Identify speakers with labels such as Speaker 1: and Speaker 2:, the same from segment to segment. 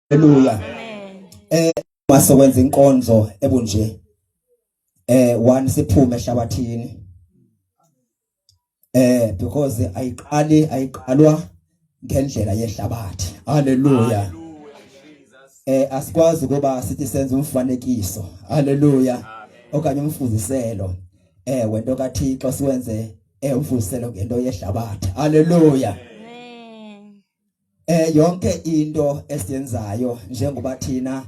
Speaker 1: Haleluya. Eh masokwenza inkonzo ebunje. Eh one siphume ehlabathini. Eh because ayiqali ayiqalwa ngendlela yehlabathi. Haleluya. Eh asikwazi kuba sithi senze umfanekiso. Haleluya. Okanye umfuziselo. Eh wento kaThixo siwenze eh umfuziselo ngento yehlabathi. Haleluya. Eh yonke into esiyenzayo njengoba thina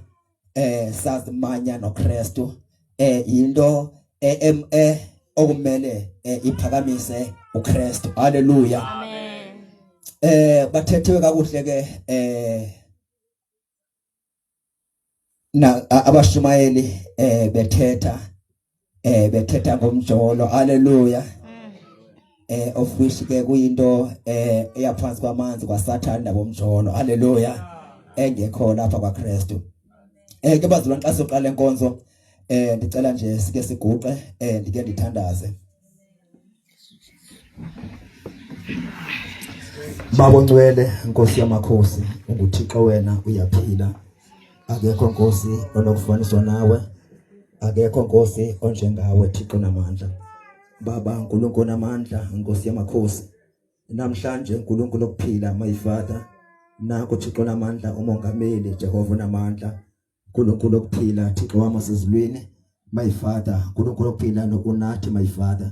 Speaker 1: eh sazimanya noKristu eh yinto eh, eh okumele eh, iphakamise uKristu. Haleluya. Amen.
Speaker 2: Eh
Speaker 1: bathethiwe kakuhle ke eh na abashumayeli eh bethetha eh bethetha ngomjolo haleluya eh of which ke kuyinto eh eyaphansi kwamanzi kwasathana nabomjolo haleluya engekho lapha kwaKristu eh ke bazalwane xa soqala inkonzo eh ndicela nje sike siguqe eh ndike ndithandaze Baba Ncwele Nkosi yamakhosi unguThixo wena uyaphila akekho Nkosi onokufaniswa nawe akekho Nkosi onjengawe Thixo namandla Baba uNkulunkulu namandla Nkosi yamakhosi namhlanje uNkulunkulu okuphila my father nakho Thixo namandla umongameli Jehova namandla nkulunkulu okuphila thixo wam wasezulwini my father nkulunkulu okuphila nokunathi my father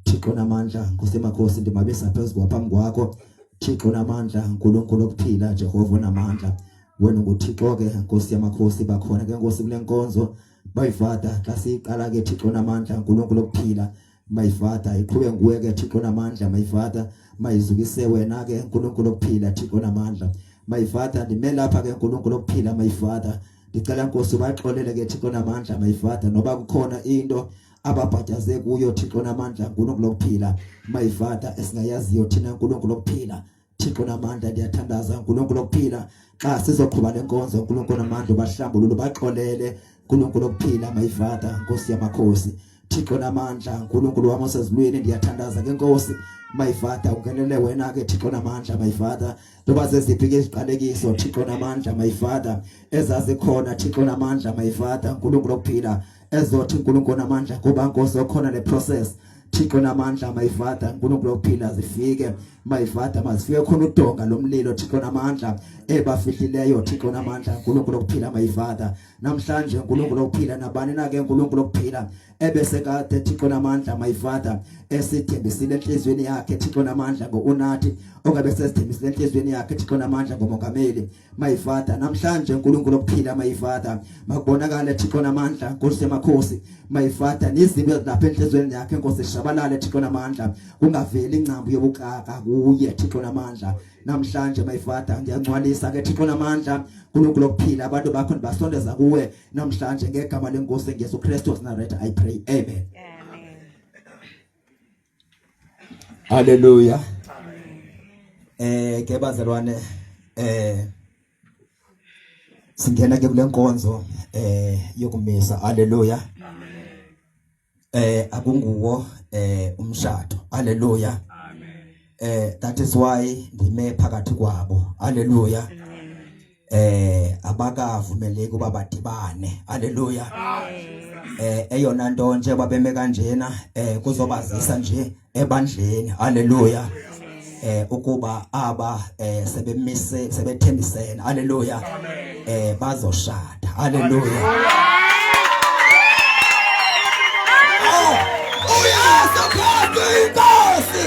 Speaker 1: thixo namandla nkosi emakhosi ndimabisa phezu kwaphambi kwakho thixo namandla nkulunkulu okuphila jehova namandla wena nguthixo ke nkosi yamakhosi bakhona ke nkosi kule nkonzo my father xa siyiqala ke thixo namandla nkulunkulu okuphila my father iqhube nguwe ke Thixo namandla my father mayizukise wena ke uNkulunkulu okuphila Thixo namandla my father ndime lapha ke uNkulunkulu okuphila my father ndicela Nkosi ubaxolele ke Thixo namandla my father noba kukhona into ababhadaze kuyo Thixo namandla uNkulunkulu okuphila my father esingayaziyo thina uNkulunkulu okuphila Thixo namandla ndiyathandaza uNkulunkulu okuphila xa sizoqhuba lenkonzo uNkulunkulu namandla ubahlambulule baxolele uNkulunkulu okuphila my father Nkosi yamakhosi Thixo namandla uNkulunkulu wami osezulwini ndiyathandaza ke Nkosi my father ungenele wena ke Thixo namandla my father loba zeziphi ke iziqalekiso Thixo namandla my father ezazikhona Thixo namandla my father uNkulunkulu okuphila ezothi uNkulunkulu namandla kuba nkosi okhona le process Thixo namandla my father uNkulunkulu ophila zifike my father mazifike khona udonga lomlilo Thixo namandla ebafihlileyo Thixo namandla uNkulunkulu okuphila my father namhlanje uNkulunkulu okuphila nabani na ke uNkulunkulu okuphila ebese kade Thixo namandla my father esithembisile enhlizweni yakhe Thixo namandla ngounathi okabe sesithembisile enhlizweni yakhe Thixo namandla ngomongameli my father namhlanje uNkulunkulu okuphila my father makubonakale Thixo namandla Nkosi yamakhosi my father nizimbe lapha enhlizweni yakhe Nkosi shabalale Thixo namandla kungaveli ingcambu yobuxaka kuye Thixo namandla namhlanje my father ngiyangcwalisa ke Thixo namandla uNkulunkulu okuphila abantu bakho ndibasondeza kuwe namhlanje ngegama lenkosi ngeSu Kristu of Nazareth i pray amen, amen. Haleluya. Eh ke bazalwane eh singena ke kule nkonzo eh yokumisa. Haleluya. Amen. Eh akunguwo eh umshado. Haleluya. Amen. Eh that is why ndime phakathi kwabo. Haleluya. Amen. eh abakavumeleki uba badibane haleluya eh eyona nto nje babeme kanjena eh kuzobazisa nje ebandleni haleluya eh ukuba aba eh sebemise sebethembisene haleluya eh bazoshada haleluya oh, uyazi phansi inkosi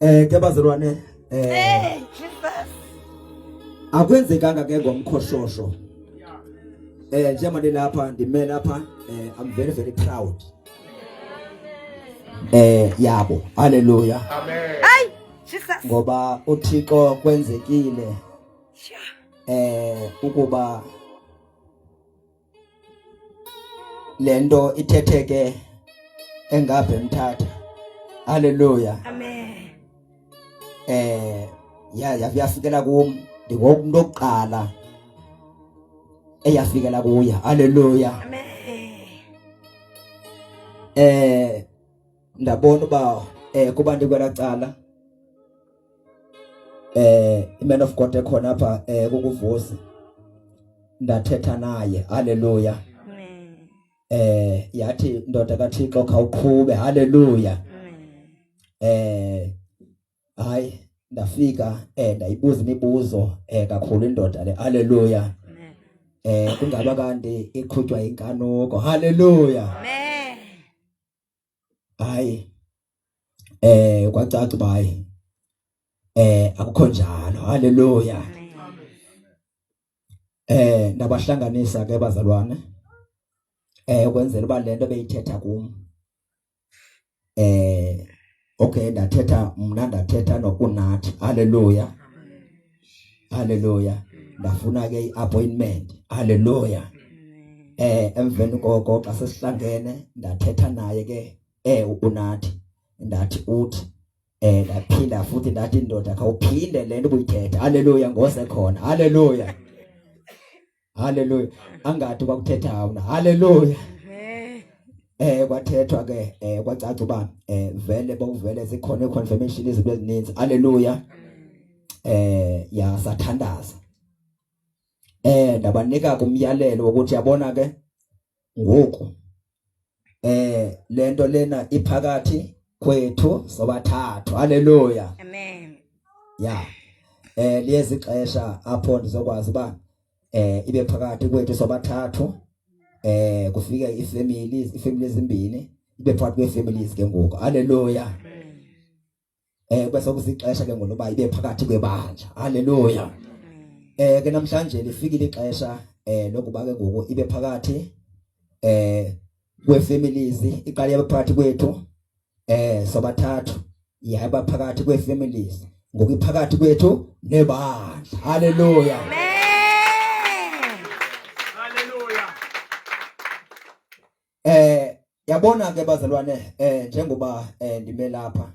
Speaker 1: Eh ke bazalwane eh akwenzekanga ke ngomkhoshosho eh njengoba nilapha ndime lapha eh i'm very very proud eh yabo haleluya amen ay
Speaker 2: jesus ngoba uthixo
Speaker 1: kwenzekile eh ukuba le nto ithetheke engabhe mthatha haleluya
Speaker 2: amen eh
Speaker 1: ya yafikela kum ndingomuntu okuqala eyafikela kuye haleluya
Speaker 2: amen
Speaker 1: eh ndabona uba eh kubantu kwelacala eh iman of God ekhona apha eh kukuvusi ndathetha naye haleluya eh yathi ndoda kaThixo khawuqhube haleluya eh hayi ndafika eh ndayibuza imibuzo eh kakhulu indoda le haleluya eh kungaba kanti iqhutywa inkanuko haleluya amen
Speaker 2: Hayi,
Speaker 1: eh kwacaca uba hayi eh akukho njalo haleluya eh ndabahlanganisa ke bazalwane eh ukwenzela uba le nto beyithetha kum eh okay ndathetha mna ndathetha nokunathi haleluya haleluya ndafuna ke iappointment haleluya eh emveni koko xa sesihlangene ndathetha naye ke eh unathi ndathi uthi eh ndaphinda futhi ndathi indoda khawuphinde lento ubuyithetha haleluya ngose khona haleluya haleluya angathi kwakuthetha wona haleluya eh kwathethwa ke eh kwacaca uba eh vele bokuvele zikhona iconfirmation izinto ezininzi haleluya eh ya sathandaza eh ndabanika kumyalelo ukuthi yabona ke ngoku eh lento lena iphakathi kwethu sobathathu haleluya amen
Speaker 2: ya eh
Speaker 1: liyezi xesha apho ndizokwazi ba eh ibe phakathi kwethu sobathathu eh kufika ifamily ifamily ezimbini ibe phakathi kweefamilies ke ngoku haleluya amen eh kube sokusixesha ke ngoba ibe phakathi kwebandla haleluya eh ke namhlanje lifikile ixesha eh lokuba ke ngoku ibe phakathi eh kwefamilies iqale yabe phakathi kwethu eh sobathathu yaba phakathi kwefamilies ngoku iphakathi kwethu nebandla haleluya amen Eh yabona ke bazalwane eh njengoba eh ndime lapha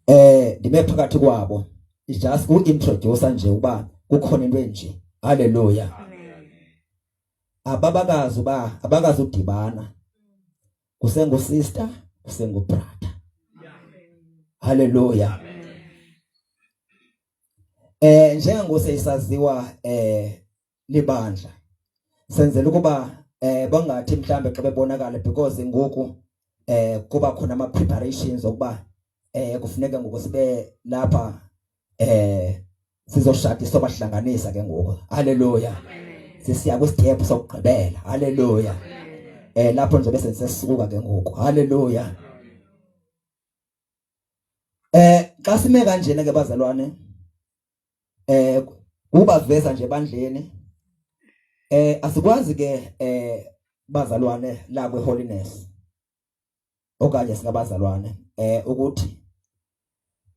Speaker 1: eh ndime phakathi kwabo is just ku introduce nje uba kukhona into enje haleluya ababakazi uba abakazi udibana kusengu sister kusengu brother haleluya eh njengoba seyisaziwa eh libandla senzela ukuba eh bangathi mhlambe xa bebonakala because ngoku eh kuba khona ama preparations okuba eh kufuneka ngoku sibe lapha eh sizoshada sobahlanganisa ke ngoku haleluya sisiya ku step sokugqibela haleluya eh lapho nje bese sisuka ke ngoku haleluya eh xa sime kanjena ke bazalwane eh ubaveza nje bandleni eh asikwazi ke eh bazalwane la kwe holiness okanye singabazalwane eh ukuthi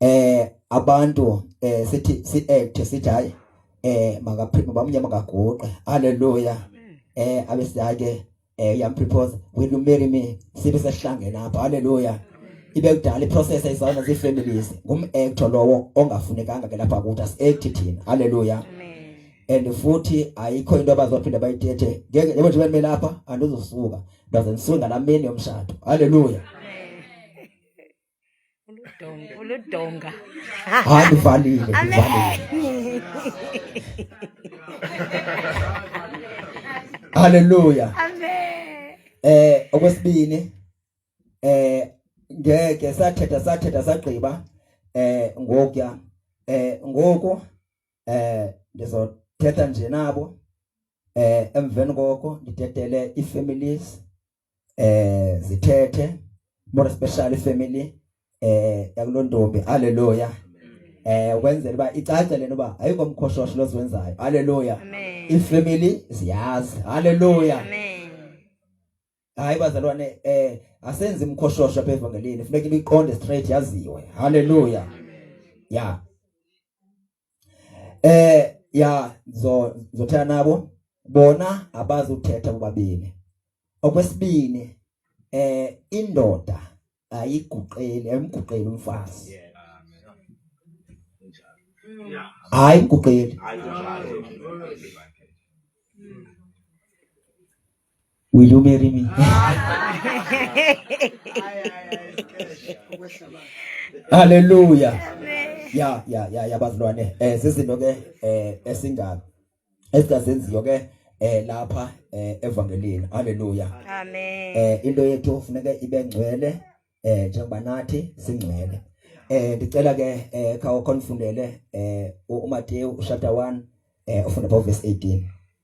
Speaker 1: eh abantu eh sithi si act sithi hayi eh makaphinde bamnyama kaguqe haleluya eh abesiyake eh young people will you marry me sibe sehlangene apha haleluya ibe kudala iprocess izona ze families ngum actor lowo ongafunekanga ke lapha kuthi as act thina haleluya and futhi ayikho into abazophinda bayithethe ngeke yebo nje bemela lapha andizosuka ndaze ndisuka ngamini yomshado haleluya
Speaker 2: Uludonga.
Speaker 1: Uludonga. Hayi ndivalile, ndivalile. Haleluya. Amen.
Speaker 2: Eh okwesibini
Speaker 1: eh ngeke sathetha sathetha sagqiba eh ngokuya eh ngoku eh ndizothetha nje nabo eh emveni koko ndidedele iifamilies eh zithethe more especially family eh yakulontombi haleluya eh ukwenzela uba icace lento uba ayikho mkhoshosho loziwenzayo haleluya ifamily ziyazi haleluya hayi bazalwane eh asenzi mkhoshosho apha evangelini funeka ibiqonde straight yaziwe haleluya ya eh ya zo zothela nabo bona abazi uthetha bobabini okwesibini eh indoda ayiguqeli ayimguqeli umfazi yeah. hayi kuqeli Will you marry me? Hallelujah. Ya ya ya ya bazilwane. Eh sizinto ke eh esinga esizazenziyo ke eh lapha eh evangelini. Hallelujah. Amen. Eh
Speaker 2: into yethu funeka
Speaker 1: ibe ngcwele eh njengoba nathi singcwele. Eh ndicela ke eh khawo konfundele eh uMateyu chapter 1 eh ufunda verse 18.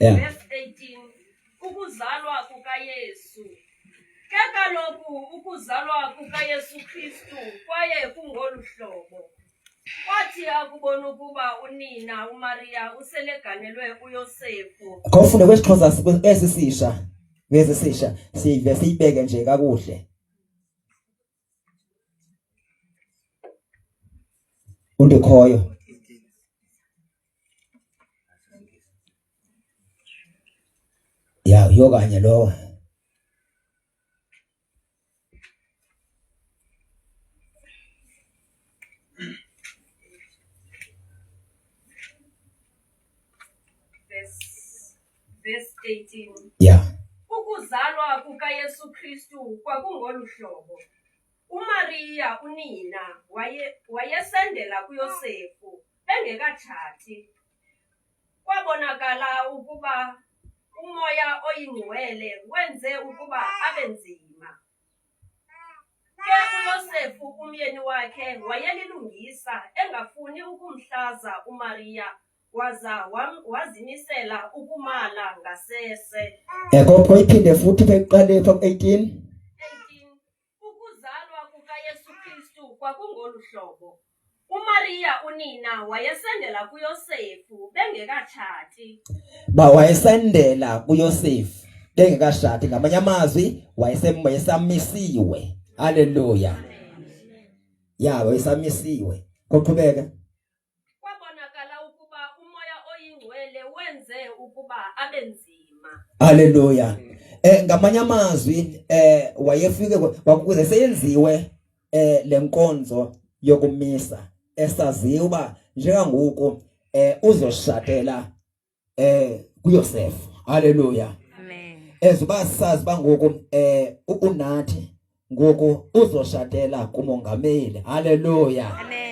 Speaker 3: Yeah. Ukuzalwa kukaYesu. Ke kaloku ukuzalwa kukaYesu Kristu kwaye kungolu hlobo. Kwathi akubona ukuba unina uMariya useleganelwe uYosefu. Khawufunde kwesiXhosa
Speaker 1: esisisha. Ngezisisha siyivese ibeke nje kakuhle. umntu khoyo ya uyokanye lowo
Speaker 3: Yeah.
Speaker 1: Ukuzalwa
Speaker 3: kukaYesu Kristu kwakungolu hlobo. UMariya unina waye wayesendela kuYosefu engekatshati. Kwabonakala ukuba umoya oyingcwele wenze ukuba abe nzima. Ke uYosefu umyeni wakhe wayelilungisa, engafuni ukumhlaza uMariya, waza wam- wazimisela ukumala ngasese. Ekokho iphinde
Speaker 1: futhi ke kuqale pha ku-18 18 Ukuzalwa
Speaker 3: kukaYesu Kristu kwakungolu hlobo. UMariya unina wayesendela kuYosefu bengekatshati. Ba
Speaker 1: wayesendela kuYosefu bengekashati ngamanye amazwi wayesamisiwe. Haleluya. Ya wayesamisiwe. Koqhubeka. Kwabonakala
Speaker 3: ukuba umoya oyingcwele wenze ukuba abe nzima. Haleluya.
Speaker 1: Eh ngamanye amazwi eh wayefike kwakuze seyenziwe eh lenkonzo yokumisa esaziwa uba njengangoku eh uzoshatela eh kuYosef haleluya amen
Speaker 2: ezuba sazi
Speaker 1: bangoku eh unathi ngoku uzoshatela kumongameli haleluya amen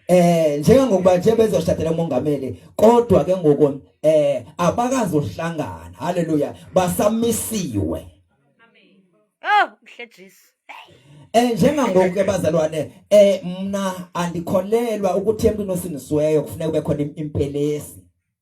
Speaker 2: Eh
Speaker 1: njengokuba nje bezoshadela umongameli kodwa ke ngoku eh abakazohlangana haleluya
Speaker 2: basamisiwe Amen
Speaker 3: Oh
Speaker 1: mhle Jesu
Speaker 2: Eh
Speaker 1: njengangoku ke bazalwane eh mna andikholelwa ukuthi emntwini osinisiweyo kufuneka kube khona impelesi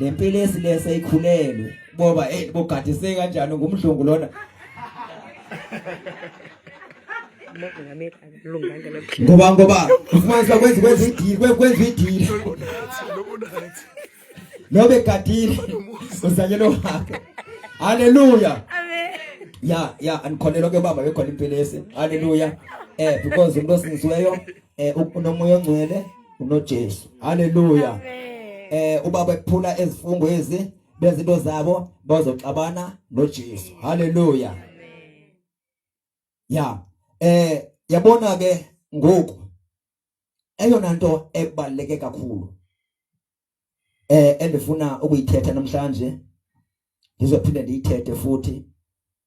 Speaker 1: lempilo esilesa ikhulelwe boba hey bogadise kanjani ngumdlungu lona ngoba ngoba ufumanisa kwenza kwenza idili kwenza idili nobe gadile usanyelo wakhe haleluya ya ya andikholelwa ke baba bekhona impelesi haleluya eh because umuntu osingisiweyo eh unomoya ongcwele unoJesu haleluya eh ubaba ephula ezifungo ezi bezinto zabo bazoxabana noJesu haleluya ya eh yabona ke ngoku eyona nto ebaleke kakhulu eh endifuna ukuyithetha namhlanje ndizophinde ndiyithethe futhi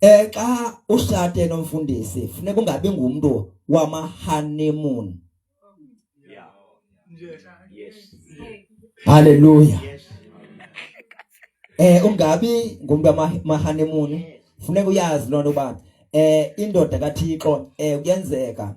Speaker 1: Eh xa ushate nomfundisi funeka ungabi ngumntu wama honeymoon. Yeah. Yes. Hallelujah. Yes. Eh ungabi ngumntu wama honeymoon. Funeka uyazi lonto uba eh indoda kaThixo eh kuyenzeka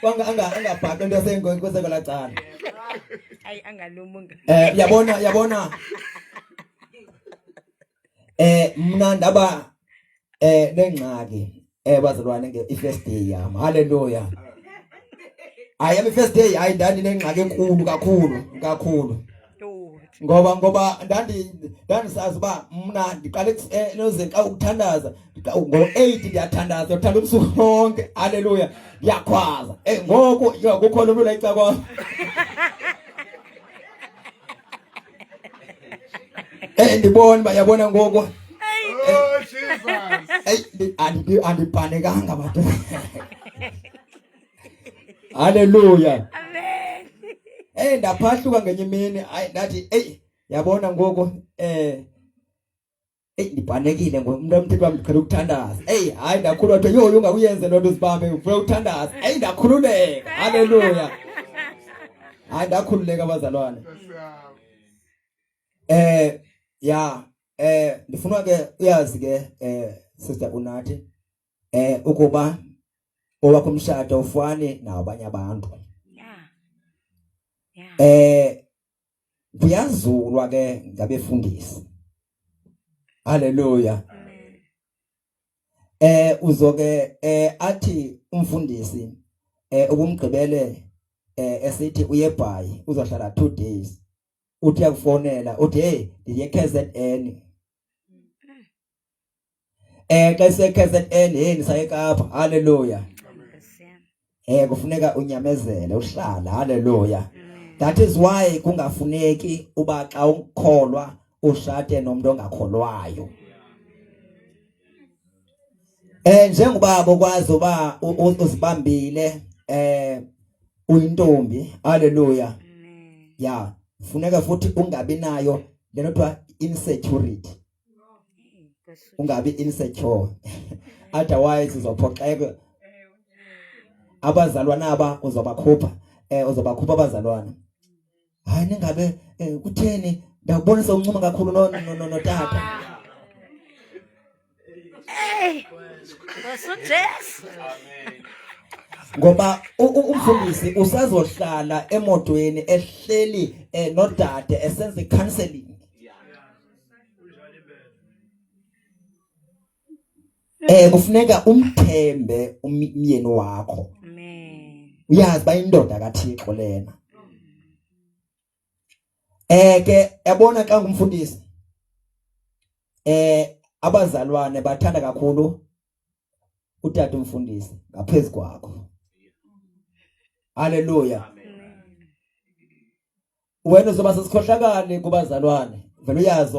Speaker 1: kwanga anga angabhaqi into yasengoyi kweseko lacala ayi
Speaker 2: angalumunga eh yabona yabona
Speaker 1: eh mna ndaba eh nengxaki eh bazalwane nge ifirst day yam haleluya hayi am first day hayi ndandinengxaki enkulu kakhulu kakhulu ngoba ngoba ndandi ndandisazi uba mna ndiqale ekuseloze eh, xa ukuthandaza ngo-eight ndiyathandaza ndiyathanda ubusuku bonke halleluya ndiyakhwaza e ngoku kukho lo mntu layica kwam e eh, ndibona uba yabona ngoku andibhanekanga batu Haleluya.
Speaker 2: Amen. Eh ndaphahluka ngenye
Speaker 1: imini ay ndathi ey yabona ngoku eh ey ndibhanekile ngomntu omthetho wami ndiqhela ukuthandaza. Ey hayi ndakhulwa kuthiwa yho ungakuyenze loo nto uzibambe ufuna ukuthandaza. Ey ndakhululeka. Haleluya. Hayi ndakhululeka abazalwane. Eh ya eh ndifuna ke uyazi ke eh sister unathi eh ukuba owakho umshado ufane nabanye abantu yeah yeah eh kuyazulwa ke ngabefundisi haleluya eh uzoke eh athi umfundisi eh ukumgqibele eh esithi uyebhayi uzohlala 2 days uthi akufonela uthi hey ndiye KZN Eh xa ise KZN hey ndisaye Kapa haleluya Eh kufuneka unyamezele uhlala haleluya That is why kungafuneki uba xa ukholwa ushate nomuntu ongakholwayo Eh njengoba bokwazi uba uzibambile eh uyintombi haleluya yeah funeka futhi ungabi nayo lento kuthiwa insecurity ungabi insecure otherwise uzophoxeka abazalwana aba uzobakhupha eh uzobakhupha abazalwana hayi ningabe eh, kutheni ndakubonisa uncuma kakhulu no no no tata hey
Speaker 2: usujesu ngoba
Speaker 1: umfundisi usazohlala emotweni ehleli eh, nodade esenza icounseling Eh kufuneka umthembe umyeni wakho.
Speaker 2: Amen. Uyazi bayindoda
Speaker 1: kaThixo lena. Eh ke yabona xa ngumfundisi eh abazalwane bathanda kakhulu utata umfundisi ngaphezulu kwakho. Haleluya. Wena uzoba sesikhohlakali kubazalwane. Vele uyazi